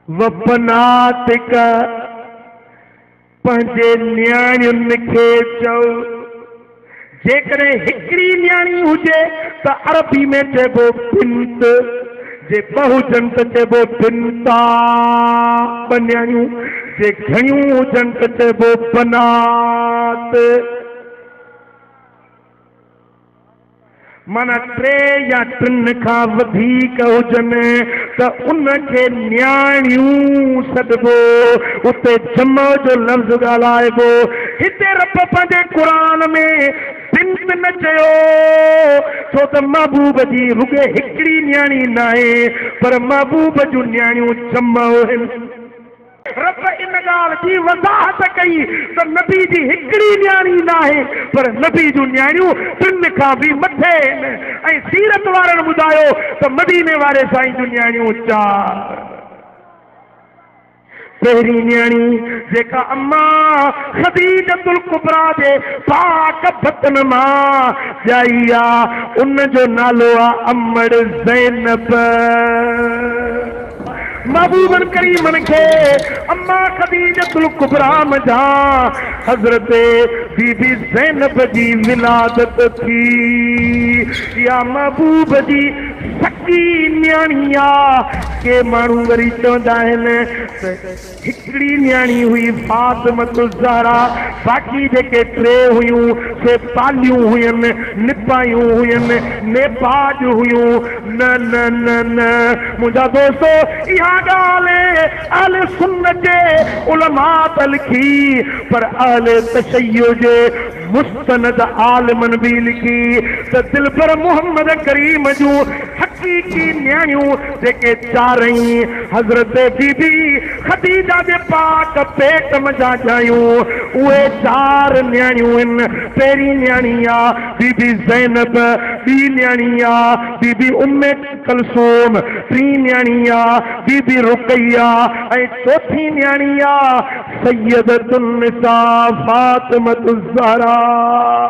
وپناتڪ پنهنجي نياڻين کي چئو، جيڪڏهن هڪڙي نياڻي هجي ته عربي ۾ چئبو بنت، جي ٻه هجن ته چئبو بنتا، ٻه نياڻيون جي گهڻيون هجن ته چئبو بنات. معنيٰ ٽي يا ٽن کان وڌيڪ هجن ته ان کي نياڻيون سڏبو. اتي جمع جو لفظ ڳالهائبو. هتي رب پنهنجي قرآن ۾ بنت نه چيو ڇو ته محبوب جي رڳي هڪڙي نياڻي ناهي پر محبوب جون نياڻيون جمع هن. رب ان ڳالهه جي وضاحت ڪئي ته نبي جي هڪڙي نياڻي ناهي پر نبي جون نياڻيون ٽن کان به مٿي آهن ۽ سيرت وارن ٻڌايو ته مديني واري سائين جون نياڻيون چار پهرين نياڻي جيڪا اما خديجة الڪبريٰ جي پاڪ بطن مان ڄائي آ ان جو نالو آ امڙ زينب. محبوبن ڪريمن کي اما خديجة الڪبريٰ منجهان حضرت بي بي زينب جي ولادت ٿي. اها محبوب جي سڳي نياڻي آ. ڪي ماڻهو وري چوندا آهن ته. هڪڙي نياڻي هئي فاطمة الزهرا باقي جيڪي ٽي هيون سي پاليون هين، نپايون هين، نيپاڄ هيون. نه نه نه نه منهنجا دوستو اها ڳالهه اهل سنت جي علماء ته لکي پر اهل تشيع جي مستند عالمن به لکي ته دلبر محمد ڪريم جون حقيقي نياڻيون جيڪي چارئي حضرت بي بي خديجه جي پاڪ پيٽ منجهان ڄايون اهي چار نياڻيون هن پهرين نياڻي آ بي بي زينب ٻي نياڻي آ بي بي ام ڪلثوم، ٽين نياڻي آ بي بي رقيه ۽ چوٿين نياڻي آ سيدة النساء فاطمة الزهراء.